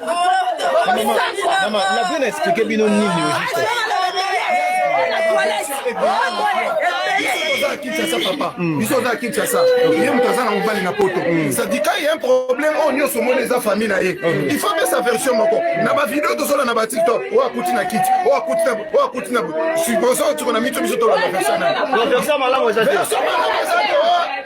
Mama, la vie n'a expliqué bino nini au juste biso oza kinshasa ye moto aza na mobali na poto sadika ye un problème oyo nyonso omoni eza famille na ye il faut apesa version moko na bavideo tozola na batiktok oyo akuti na kiti oyo akuti na oyo akuti na suboso tiko na miso biso tolanda version na version malamu eza te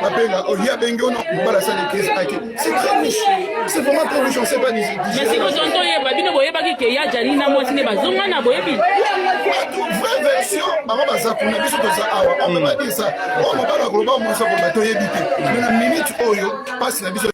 abenga olie abengi ono mobala asali crise ake c'est très riche c'est vraiment très riche on sait pas mais siko tonto oyeba bino boyebaki ke ya jani na mwasi nde bazonga na boyebi vraie version bango baza kuna biso toza awa omemadi sa oyo mobala akoloba mwasi akoloba toyebi te mais na minute oyo mpasi na biso